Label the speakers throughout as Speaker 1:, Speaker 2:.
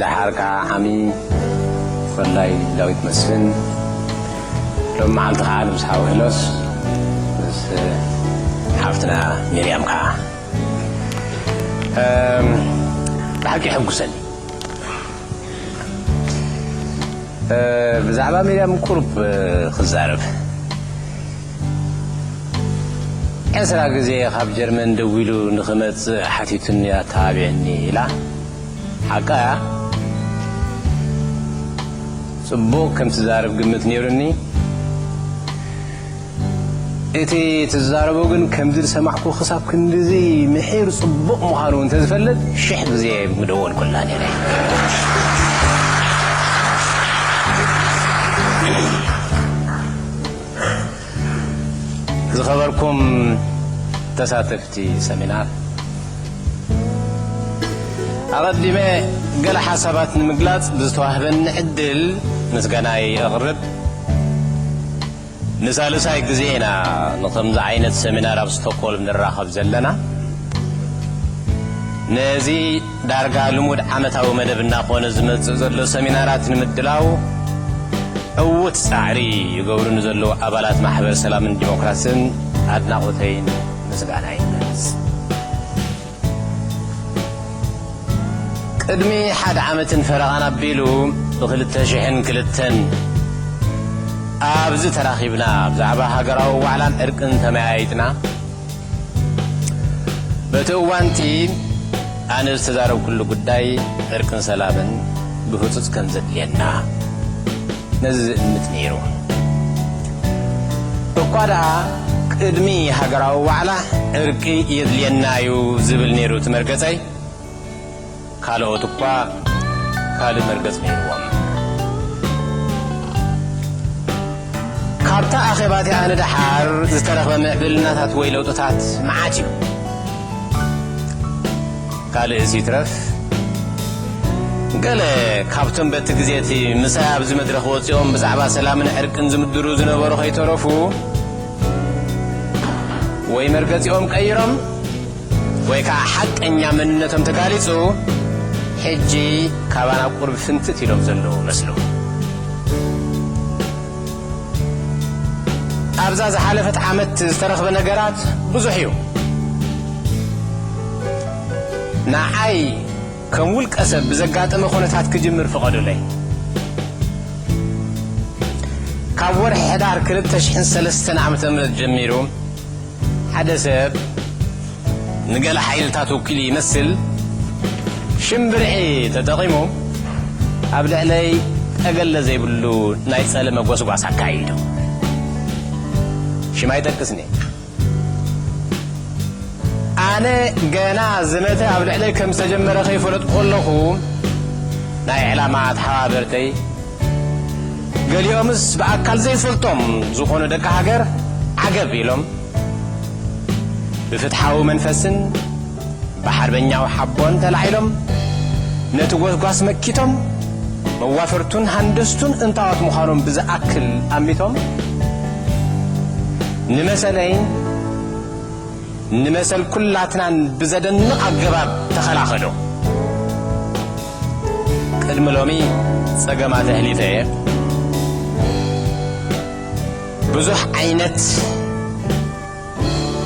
Speaker 1: ደሓር ከኣ ዓሚ ኮላይ ዳዊት መስፍን ሎም መዓልቲ ከኣ ምስ ሓው ሄኖስ ምስ ሓፍትና ሚርያም ከኣ ብሓቂ ይሕጉሰኒ ብዛዕባ ሚርያም ቁሩብ ክዛረብ ዕስራ ግዜ ካብ ጀርመን ደዊሉ ንኽመጽእ ሓቲቱኒ ኣተባቢዕኒ ኢላ ሓቃ እያ ጽቡቕ ከም ትዛረብ ግምት ነይሩኒ እቲ ትዛረቦ ግን ከምዚ ዝሰማዕኩ ክሳብ ክንድዚ ምሒር ጽቡቕ ምዃኑ እንተዝፈልጥ ሽሕ ግዜ ምደወልኩላ ነይረ ዝኸበርኩም ተሳተፍቲ ሰሚናር፣ ኣቐዲመ ገለ ሓሳባት ንምግላጽ ብዝተዋህበኒ ዕድል ምስጋናይ ኣቕርብ። ንሳልሳይ ግዜ ኢና ንከምዚ ዓይነት ሰሚናር ኣብ ስቶኮልም ንራኸብ ዘለና። ነዚ ዳርጋ ልሙድ ዓመታዊ መደብ እናኾነ ዝመጽእ ዘሎ ሰሚናራት ንምድላው ዕዉት ጻዕሪ ይገብሩ ንዘለዉ ኣባላት ማሕበር ሰላምን ዲሞክራስን ኣድናቖተይን ምስጋናይን እገልጽ። ቅድሚ ሓደ ዓመትን ፈረቓን ኣቢሉ ብክልተ ሽሕን ክልተን ኣብዚ ተራኺብና ብዛዕባ ሃገራዊ ዋዕላን ዕርቅን ተመያይጥና። በቲ እዋንቲ ኣነ ዝተዛረብኩሉ ጉዳይ ዕርቅን ሰላምን ብህፁፅ ከም ዘድልየና ነዚ ዝእምት ነይሩ እኳ ደኣ ቅድሚ ሃገራዊ ዋዕላ ዕርቂ የድልየና እዩ ዝብል ነይሩ እቲ መርገፀይ ካልኦት እኳ ካልእ መርገጽ ነይርዎም። ካብታ ኣኼባ እቲኣ ንደሓር ዝተረኽበ ምዕብልናታት ወይ ለውጥታት መዓት እዩ። ካልእስ ይትረፍ ገለ ካብቶም በቲ ግዜ እቲ ምሳይ ኣብዚ መድረኽ ወጺኦም ብዛዕባ ሰላምን ዕርቅን ዝምድሩ ዝነበሩ ከይተረፉ ወይ መርገጺኦም ቀይሮም፣ ወይ ከኣ ሓቀኛ መንነቶም ተጋሊጹ ሕጂ ካባና ቁሩብ ፍንትት ኢሎም ዘለዉ መስሉ። ኣብዛ ዝሓለፈት ዓመት ዝተረኽበ ነገራት ብዙሕ እዩ። ንዓይ ከም ውልቀ ሰብ ብዘጋጠመ ኩነታት ክጅምር ፍቐዱለይ። ካብ ወርሒ ሕዳር ክልተ ሽሕን ሰለስተን ዓመተ ምህረት ጀሚሩ፣ ሓደ ሰብ ንገለ ሓይልታት ወኪሉ ይመስል ሽም ብርዒ ተጠቒሙ ኣብ ልዕለይ ጠገለ ዘይብሉ ናይ ጸለመ ጎስጓስ ኣካይዱ። ሽም ኣይጠቅስን'የ። ኣነ ገና ዝመተ ኣብ ልዕለይ ከም ዝተጀመረ ከይፈለጥኩ ከለኹ ናይ ዕላማ ተሓባበርተይ፣ ገሊኦምስ ብኣካል ዘይፈልጦም ዝኾኑ ደቂ ሃገር ዓገብ ኢሎም ብፍትሓዊ መንፈስን ብሓርበኛዊ ሓቦን ተላዒሎም ነቲ ጎስጓስ መኪቶም መዋፈርቱን ሃንደስቱን እንታዎት ምዃኖም ብዝኣክል ኣሚቶም ንመሰለይን ንመሰል ኩላትናን ብዘደንቕ ኣገባብ ተኸላኸሎ። ቅድሚ ሎሚ ጸገማት ኣሕሊፈ እየ። ብዙሕ ዓይነት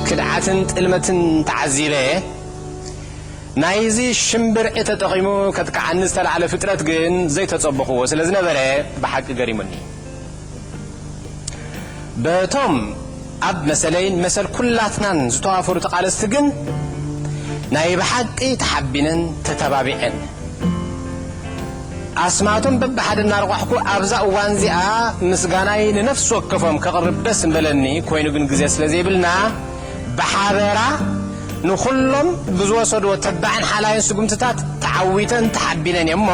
Speaker 1: ክድዓትን ጥልመትን ተዓዚበ እየ። ናይዚ ሽምብርዒ ተጠቒሙ ከጥቅዓኒ ዝተላዕለ ፍጥረት ግን ዘይተጸበኹዎ ስለ ዝነበረ ብሓቂ ገሪሙኒ። በቶም ኣብ መሰለይን መሰል ኩላትናን ዝተዋፈሩ ተቓለስቲ ግን ናይ ብሓቂ ተሓቢነን ተተባቢዐን ኣስማቶም በብሓደ እናረቋሕኩ ኣብዛ እዋን እዚኣ ምስጋናይ ንነፍሲ ወከፎም ከቕርብ ደስ ምበለኒ ኮይኑ ግን ግዜ ስለ ዘይብልና ብሓበራ ንኹሎም ብዝወሰድዎ ተባዕን ሓላይን ስጉምትታት ተዓዊተን ተሓቢነን እየሞ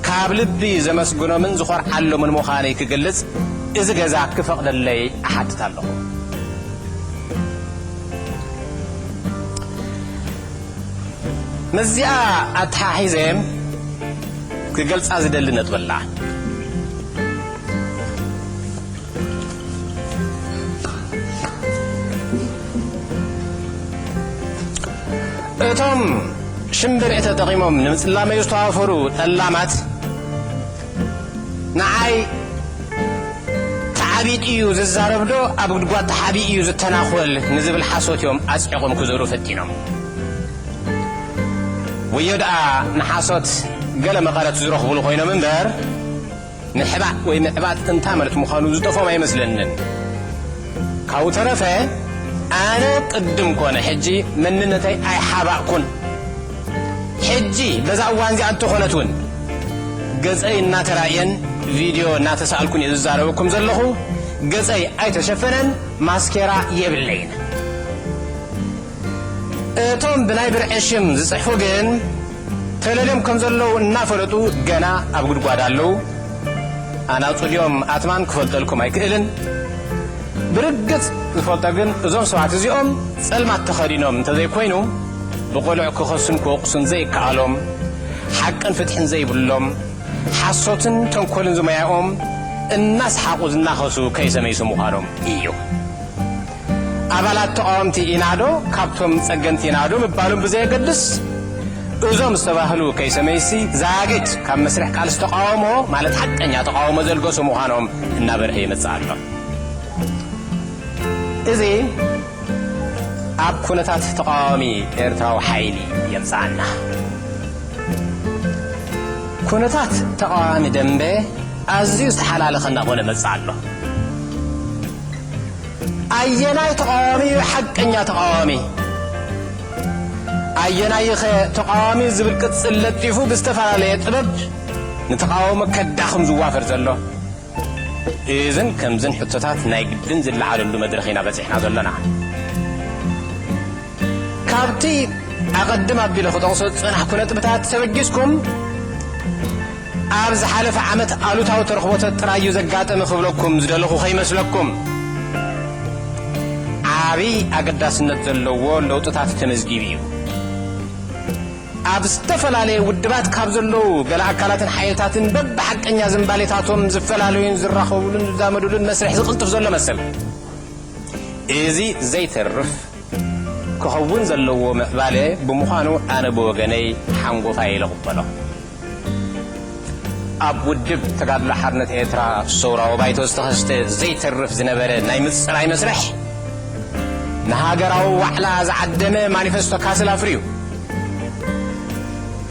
Speaker 1: ካብ ልቢ ዘመስግኖምን ዝኾርዓሎምን ምዃነይ ክገልጽ እዚ ገዛ ክፈቕደለይ እሓትት ኣለኹ። ምስዚኣ ኣተሓሒዘ ክገልጻ ዝደሊ ነጥቢ ኣላ። እቶም ሽምብርዒ ተጠቒሞም ንምጽላመይ ዝተዋፈሩ ጠላማት ንዓይ ተዓቢጥ እዩ ዝዛረብዶ ኣብ ጉድጓድ ተሓቢ እዩ ዝተናኾል ንዝብል ሓሶት እዮም ኣጽዒቖም ክዘሩ ፈቲኖም ወዮ ደኣ ንሓሶት ገለ መቐረት ዝረኽቡሉ ኮይኖም እምበር ምሕባእ ወይ ምዕባጥ እንታይ ማለት ምዃኑ ዝጠፍኦም ኣይመስለንን። ካብኡ ተረፈ ኣነ ቅድም ኮነ ሕጂ መንነተይ ኣይሓባእኩን። ሕጂ በዛ እዋን እዚኣ እንተኾነት እውን ገጸይ እናተራእየን ቪድዮ እናተሳእልኩን እየ ዝዛረበኩም ዘለኹ። ገጸይ ኣይተሸፈነን፣ ማስኬራ የብለይን። እቶም ብናይ ብርዒ ሽም ዝጽሕፉ ግን ተለልዮም ከም ዘለዉ እናፈለጡ ገና ኣብ ጉድጓድ ኣለዉ። ኣናጹ ድዮም ኣትማን ክፈልጠልኩም ኣይክእልን። ብርግጽ ዝፈልጦ ግን እዞም ሰባት እዚኦም ጸልማት ተኸዲኖም እንተዘይኮይኑ ብቕሉዕ ክኸሱን ክወቕሱን ዘይከኣሎም፣ ሓቅን ፍትሕን ዘይብሎም፣ ሓሶትን ተንኮልን ዝሞያኦም እናስሓቑ ዝናኸሱ ከይሰመይሱ ምዃኖም ኢዩ። ኣባላት ተቓወምቲ ኢና ዶ ካብቶም ጸገምቲ ኢና ዶ ምባሎም ብዘየገድስ እዞም ዝተባህሉ ከይሰመይሲ ዛጊት ካብ መስርሕ ቃልሲ ተቓውሞ ማለት ሓቀኛ ተቓውሞ ዘልገሱ ምዃኖም እናበርሀ ይመጽእ ኣሎ። እዚ ኣብ ኩነታት ተቓዋሚ ኤርትራዊ ሓይሊ የምጽኣና። ኩነታት ተቓዋሚ ደምበ ኣዝዩ ዝተሓላለኸ እናኾነ መጽእ ኣሎ። ኣየናይ ተቓዋሚ እዩ ሓቀኛ ተቓዋሚ? ኣየናይኸ ተቓዋሚ ዝብል ቅጽል ለጢፉ ብዝተፈላለየ ጥበብ ንተቓውሞ ከዳኽም ዝዋፈር ዘሎ? እዝን ከምዝን ሕቶታት ናይ ግድን ዝለዓለሉ መድረኽ ኢና በጺሕና ዘሎና። ካብቲ ኣቐድም ኣቢለ ክጠቕሶ ዝጸናሕኩ ነጥብታት ተበጊስኩም፣ ኣብ ዝሓለፈ ዓመት ኣሉታዊ ተረኽቦተት ጥራይ እዩ ዘጋጠመ ክብለኩም ዝደለኹ ከይመስለኩም። ዓቢ ኣገዳስነት ዘለዎ ለውጥታት ተመዝጊቡ እዩ። ኣብ ዝተፈላለየ ውድባት ካብ ዘለዉ ገለ ኣካላትን ሓይልታትን በብሓቀኛ ዝምባሌታቶም ዝፈላለዩን ዝራኸቡሉን ዝዛመዱሉን መስርሕ ዝቕልጥፍ ዘሎ መሰል። እዚ ዘይተርፍ ክኸውን ዘለዎ ምዕባለ ብምዃኑ ኣነ ብወገነይ ሓንጎፋይ ኢለ እቕበሎ። ኣብ ውድብ ተጋድሎ ሓርነት ኤርትራ ሰውራዊ ባይቶ ዝተኸስተ ዘይተርፍ ዝነበረ ናይ ምጽራይ መስርሕ፣ ንሃገራዊ ዋዕላ ዝዓደመ ማኒፈስቶ ካስል ኣፍርዩ።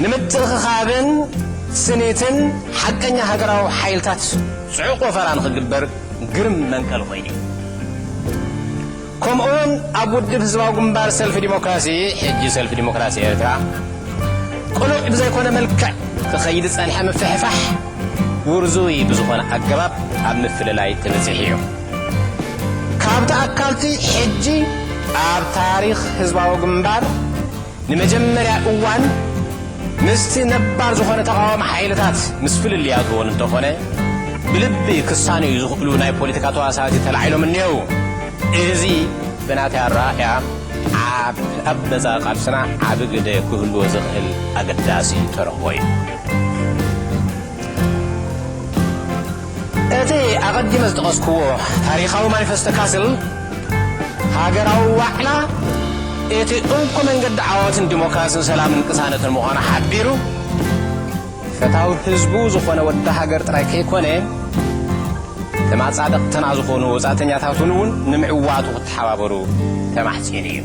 Speaker 1: ንምትእኽኻብን ስኒትን ሓቀኛ ሃገራዊ ሓይልታት ጽዑቕ ወፈራ ንኽግበር ግርም መንቀሊ ኮይኑ እዩ። ከምኡውን ኣብ ውድብ ህዝባዊ ግንባር ሰልፊ ዲሞክራሲ፣ ሕጂ ሰልፊ ዲሞክራሲ ኤርትራ፣ ቅሉዕ ብዘይኮነ መልክዕ ክኸይድ ዝጸንሐ ምፍሕፋሕ ውርዙይ ብዝኾነ ኣገባብ ኣብ ምፍልላይ ተበጺሑ ኢዩ። ካብ ተኣካልቲ ሕጂ ኣብ ታሪኽ ህዝባዊ ግንባር፣ ንመጀመርያ እዋን ምስቲ ነባር ዝኾነ ተቓዋሚ ሓይልታት ምስ ፍልልያቱ እውን እንተኾነ ብልቢ ክሳነዩ ዝኽእሉ ናይ ፖለቲካ ተዋሳእቲ ተላዒሎም እኒሀው። እዚ ብናተይ ኣረኣእያ ኣብ ኣብ መጻኢ ቃልስና ዓቢ ግደ ክህልዎ ዝኽእል ኣገዳሲ ተረኽቦ እዩ። እቲ ኣቐዲመ ዝጠቐስኩዎ ታሪኻዊ ማኒፈስቶ ካስል ሃገራዊ ዋዕላ እቲ እንኮ መንገዲ ዓወት ንዲሞክራስን ሰላምን ቅሳነትን ምዃኑ ሓቢሩ፣ ፈታዊ ህዝቡ ዝኾነ ወዲ ሃገር ጥራይ ከይኮነ ተማጻደቕትና ዝኾኑ ወጻእተኛታትን እውን ንምዕዋቱ ክተሓባበሩ ተማሕጺኑ እዩ።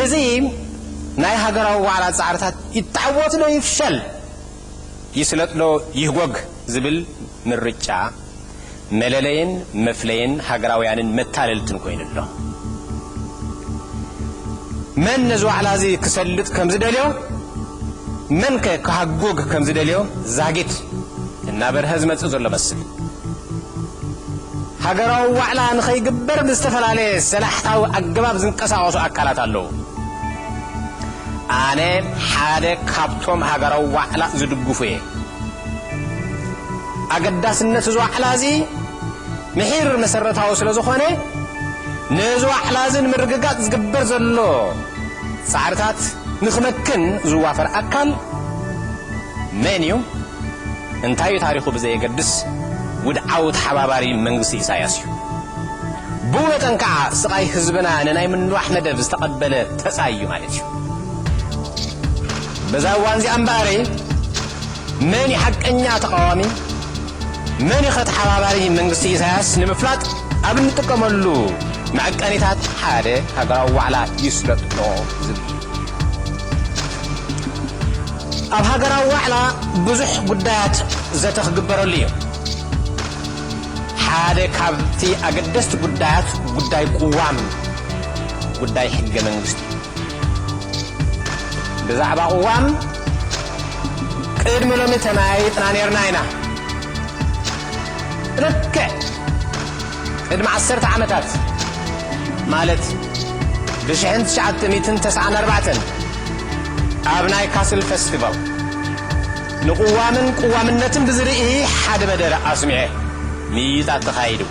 Speaker 1: እዚ ናይ ሃገራዊ ዋዕላ ጻዕርታት ይተዓወትዶ ይፍሸል፣ ይስለጥዶ ይህጎግ ዝብል ምርጫ መለለይን መፍለይን ሃገራውያንን መታለልትን ኮይኑ ኣሎ። መን ነዚ ዋዕላ እዚ ክሰልጥ ከም ዝደልዮ፣ መንከ ክሃጎግ ከም ዝደልዮ ዛጊት እናበርሀ ዝመጽእ ዘሎ መስል። ሃገራዊ ዋዕላ ንኸይግበር ብዝተፈላለየ ሰላሕታዊ ኣገባብ ዝንቀሳቐሱ ኣካላት ኣለዉ። ኣነ ሓደ ካብቶም ሃገራዊ ዋዕላ ዝድግፉ እየ። ኣገዳስነት እዚ ዋዕላ እዚ ምሒር መሰረታዊ ስለ ዝኾነ ነዚ ዋዕላ እዚ ንምርግጋጽ ዝግበር ዘሎ ጻዕርታት ንክመክን ዝዋፈር ኣካል መን እዩ እንታይ እዩ ታሪኹ ብዘየገድስ ውድዓዊ ተሓባባሪ መንግስቲ ኢሳያስ እዩ። ብመጠን ከኣ ስቓይ ህዝብና ንናይ ምንዋሕ መደብ ዝተቐበለ ተጻይ እዩ ማለት እዩ። በዛ እዋን'ዚኣ እምበኣር መን እዩ ሓቀኛ ተቓዋሚ መን እዩ'ኸ ተሓባባሪ መንግስቲ ኢሳያስ ንምፍላጥ ኣብ እንጥቀመሉ መዐቀኒታት ሓደ ሃገራዊ ዋዕላ ይስለጥ'ዶ ዝብል እዩ። ኣብ ሃገራዊ ዋዕላ ብዙሕ ጉዳያት ዘተ ክግበረሉ እዩ። ሓደ ካብቲ ኣገደስቲ ጉዳያት ጉዳይ ቅዋም እዩ፣ ጉዳይ ሕገ መንግስቲ እዩ። ብዛዕባ ቅዋም ቅድሚ ሎሚ ተመያይጥና ኔርና ኢና። ልክዕ ቅድሚ ዓሰርተ ዓመታት ማለት ብሽሕን ትሽዓተ ሚእትን ተስዓን ኣርባዕተን ኣብ ናይ ካስል ፈስቲቫል ንቕዋምን ቅዋምነትን ብዝርኢ ሓደ መደረ ኣስሚዐ። ምይይጣት ተኻይዱ።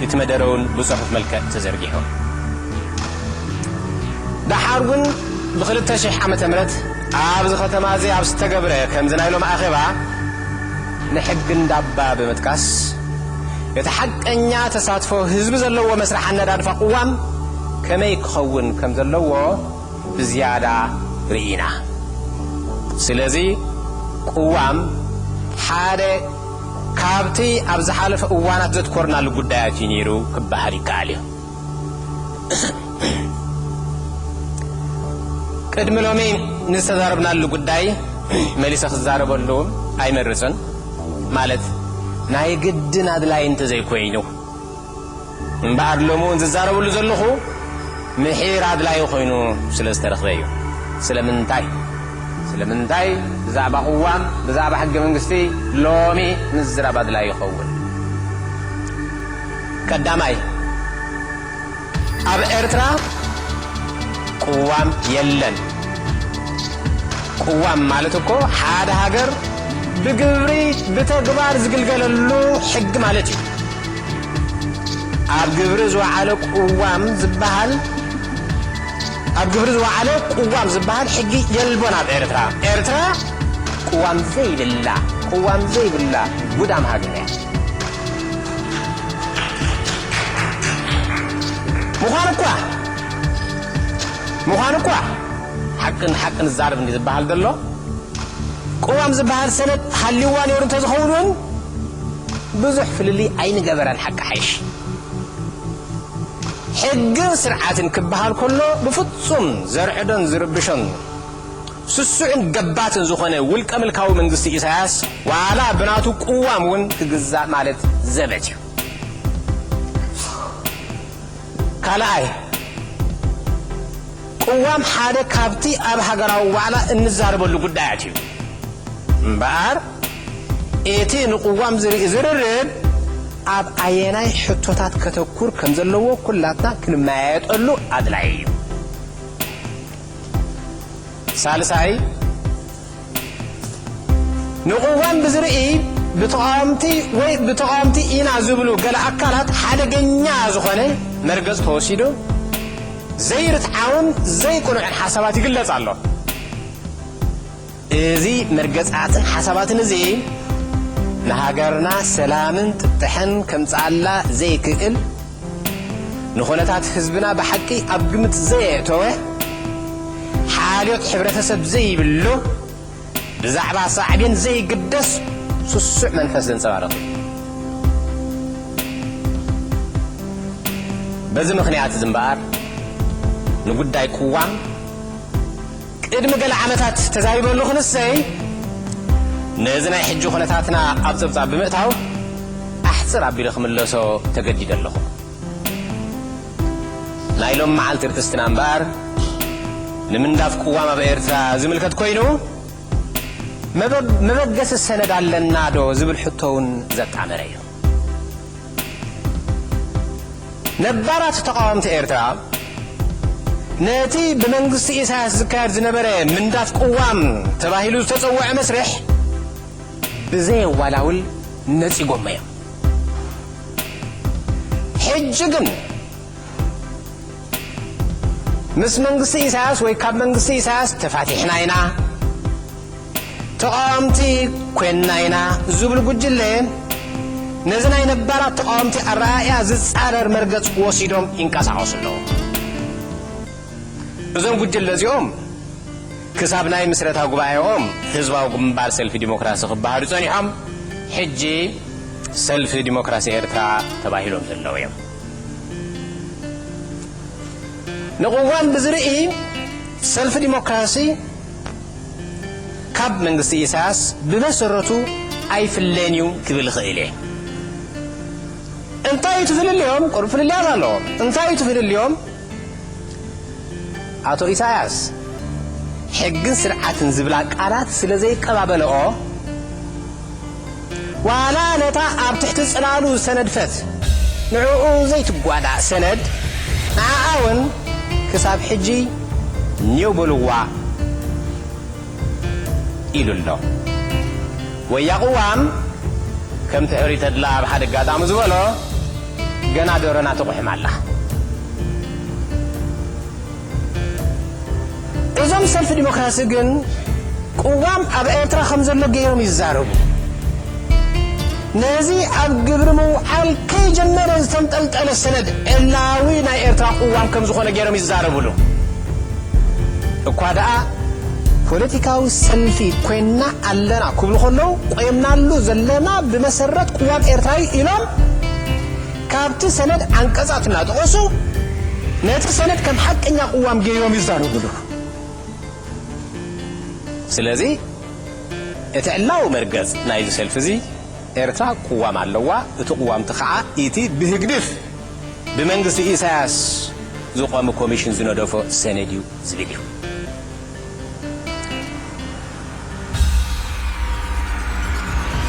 Speaker 1: እቲ መደረውን ብጽሑፍ መልክዕ ተዘርጊሑ። ደሓርውን ብክልተ ሽሕ ዓመተ ምህረት ኣብዚ ከተማዚ ኣብ ዝተገብረ ከምዚ ናይ ሎም ኣኼባ ንሕጊ እንዳባ ብምጥቃስ እቲ ሓቀኛ ተሳትፎ ህዝቢ ዘለዎ መስርሕ ኣነዳድፋ ቅዋም ከመይ ክኸውን ከምዘለዎ ብዝያዳ ርኢና። ስለዚ ቅዋም ሓደ ካብቲ ኣብ ዝሓለፈ እዋናት ዘትኮርናሉ ጉዳያት እዩ ነይሩ ክበሃል ይከኣል እዩ። ቅድሚ ሎሚ ንዝተዛረብናሉ ጉዳይ መሊሰ ክዛረበሉ ኣይመርጽን፣ ማለት ናይ ግድን ኣድላዪ እንተዘይኮይኑ። እምበኣር ሎሚ እውን ዝዛረበሉ ዘለኹ ምሒር ኣድላዪ ኮይኑ ስለ ዝተረኽበ እዩ። ስለምንታይ? ስለምንታይ ብዛዕባ ቅዋም፣ ብዛዕባ ሕገ መንግስቲ ሎሚ ምዝራብ ኣድላዪ ይኸውን? ቀዳማይ፣ ኣብ ኤርትራ ቅዋም የለን። ቅዋም ማለት እኮ ሓደ ሃገር ብግብሪ ብተግባር ዝግልገለሉ ሕጊ ማለት እዩ። ኣብ ግብሪ ዝወዓለ ቅዋም ዝበሃል ኣብ ግብሪ ዝወዓለ ቅዋም ዝበሃል ሕጊ የልቦን ኣብ ኤርትራ። ኤርትራ ቅዋም ዘይብላ ቅዋም ዘይብላ ጉዳም ሃገር እያ። ምዃኑ እኳ ምዃኑ እኳ ሓቂ ንሓቂ ንዛረብ እንዲ ዝበሃል ዘሎ ቅዋም ዝበሃል ሰነድ ሃልዩዋ ነይሩ እንተዝኸውን እውን ብዙሕ ፍልልይ ኣይንገበረን ሓቂ ሓይሽ። ሕግን ስርዓትን ክበሃል ከሎ ብፍጹም ዘርዕዶን ዝርብሾን ስሱዕን ገባትን ዝኾነ ውልቀ ምልካዊ መንግስቲ ኢሳያስ ዋላ ብናቱ ቅዋም እውን ክግዛእ ማለት ዘበት እዩ። ካልኣይ፣ ቅዋም ሓደ ካብቲ ኣብ ሃገራዊ ዋዕላ እንዛረበሉ ጉዳያት እዩ። እምበኣር እቲ ንቅዋም ዝርኢ ዝርርብ ኣብ ኣየናይ ሕቶታት ከተኩር ከም ዘለዎ ኩላትና ክንመያየጠሉ ኣድላዪ እዩ። ሳልሳይ፣ ንቕዋም ብዝርኢ ብተቓወምቲ ወይ ብተቓወምቲ ኢና ዝብሉ ገለ ኣካላት ሓደገኛ ዝኾነ መርገፂ ተወሲዱ ዘይርትዓውን ዘይቅኑዕን ሓሳባት ይግለፅ ኣሎ። እዚ መርገፅኣትን ሓሳባትን እዚ ንሃገርና ሰላምን ፍትሕን ከምፅኣላ ዘይክእል ንኹነታት ህዝብና ብሓቂ ኣብ ግምት ዘየእተወ፣ ሓልዮት ሕብረተሰብ ዘይብሉ፣ ብዛዕባ ሳዕቤን ዘይግደስ ስሱዕ መንፈስ ዘንጸባርቕ እዩ። በዚ ምኽንያት'ዚ እምበኣር ንጉዳይ ቅዋም፣ ቅድሚ ገለ ዓመታት ተዛሪበሉ ክንሰይ ነዚ ናይ ሕጂ ኩነታትና ኣብ ጸብጻብ ብምእታው ኣሕጽር ኣቢለ ክምለሶ ተገዲደ ኣለኹ። ናይ ሎሚ መዓልቲ ርእስትና እምበኣር ንምንዳፍ ቅዋም ኣብ ኤርትራ ዝምልከት ኮይኑ መበገሲ ሰነድ ኣለናዶ ዝብል ሕቶ'ውን ዘጣመረ እዩ። ነባራት ተቓወምቲ ኤርትራ፣ ነቲ ብመንግስቲ ኢሳያስ ዝካየድ ዝነበረ ምንዳፍ ቅዋም ተባሂሉ ዝተጸውዐ መስርሕ ብዘየዋላውል ነጺጎሞ እዮም። ሕጂ ግን ምስ መንግስቲ ኢሳያስ ወይ ካብ መንግስቲ ኢሳያስ ተፋቲሕና ኢና፣ ተቓወምቲ ኮይንና ኢና ዝብሉ ጉጅለ ነዚ ናይ ነባራት ተቓወምቲ ኣረኣእያ ዝጻረር መርገጽ ወሲዶም ይንቀሳቐሱ ኣለዉ። እዞም ጉጅለ እዚኦም ክሳብ ናይ ምስረታ ጉባኤኦም ህዝባዊ ግንባር ሰልፊ ዲሞክራሲ ክበሃሉ ጸኒሖም ሕጂ ሰልፊ ዲሞክራሲ ኤርትራ ተባሂሎም ዘለዉ እዮም። ንቕዋም ብዝርኢ ሰልፊ ዲሞክራሲ ካብ መንግስቲ ኢሳያስ ብመሰረቱ ኣይፍለን እዩ ክብል እኽእል እየ። እንታይ እዩ እቲ ፍልልዮም? ቅሩብ ፍልልያት ኣለዎም። እንታይ እዩ እቲ ፍልልዮም? ኣቶ ኢሳያስ ሕግን ስርዓትን ዝብላ ቃላት ስለ ዘይቀባበለኦ፣ ዋላ ነታ ኣብ ትሕቲ ጽላሉ ዝተነድፈት ንዕኡ ዘይትጓዳእ ሰነድ ንዓኣ ውን ክሳብ ሕጂ ኔው በልዋ ኢሉ ኣሎ። ወያ ቅዋም ከምቲ ሕሩይ ተድላ ኣብ ሓደ ኣጋጣሚ ዝበሎ ገና ደሮና ትቑሕም ኣላ። እዞም ሰልፊ ዲሞክራሲ ግን ቅዋም ኣብ ኤርትራ ከም ዘሎ ገይሮም ይዛረቡ። ነዚ ኣብ ግብሪ ምውዓል ከይጀመረ ዝተንጠልጠለ ሰነድ ዕላዊ ናይ ኤርትራ ቅዋም ከም ዝኾነ ገይሮም ይዛረብሉ። እኳ ደኣ ፖለቲካዊ ሰልፊ ኮይንና ኣለና ክብሉ ከለዉ ቆይምናሉ ዘለና ብመሰረት ቅዋም ኤርትራ'ዩ ኢሎም ካብቲ ሰነድ ዓንቀጻት እናጠቐሱ ነቲ ሰነድ ከም ሓቀኛ ቅዋም ገይሮም ይዛረቡ ኣለዉ። ስለዚ እቲ ዕላዊ መርገጽ ናይዚ ሰልፊዚ ኤርትራ ቅዋም ኣለዋ፣ እቲ ቅዋምቲ ከኣ ኢቲ ብህግድፍ ብመንግስቲ ኢሳያስ ዝቖመ ኮሚሽን ዝነደፎ ሰነድ እዩ ዝብል እዩ።